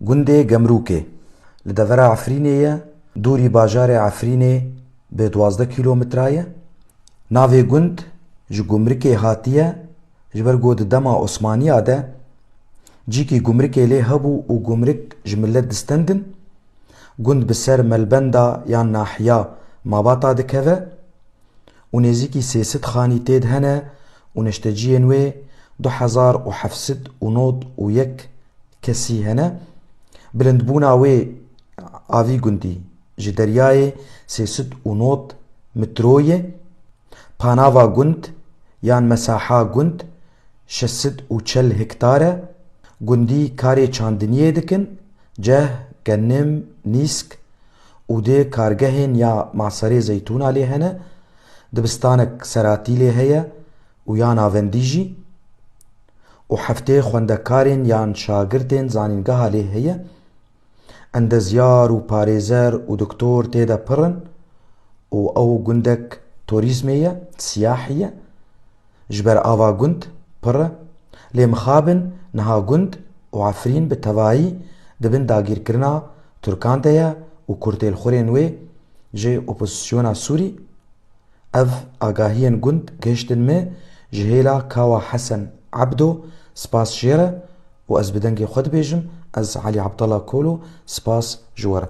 Gundê Gemrûkê li devera Efrînê ye, dûrî bajarê Efrînê bi duwazdeh kîlometre ye. Navê gund ji gumrikê hatiye ji ber ku di dema Osmaniya de cîkî gumrikê lê hebû û gumrik ji milet distendin. Gund bi ser melbenda yan nahiya Mabata dikeve. û nêzîkî sê sed xanî têd hene û neşteciyên wê du hezar û heft sed û nod û yek kesî hene. Bilindbûna wê a vî gundî ji deryayê sê sed û nod mitro ye. Panava gund yan mesaha gund şeş sed û çel hektar e. Gundî karê çandiniyê dikin, ceh, genim, nîsk. û dê kargehên ya Maserê Zeytûna lê hene, dibistanek seratî lê heye û ya navendî jî û heftê xwendekarên yan şagirtên zanîngeha lê heye. Endezyar û parêzer û doktor tê de pir in û ew gundek torîzmê ye, siyahî ye. Ji ber ava gund pir e. Lê mixabin niha gund û Efrîn bi tevayî di bin dagîrkirina Tirkan de ye û kurtêlxurên wê ji opozîsyona Sûrî Ev agahiyên gund gihiştin min ji hêla Kawa Hesen Ebdo spas jê re û ez bi dengê xwe dibêjim ez Elî Abdallah Kolo spas ji we re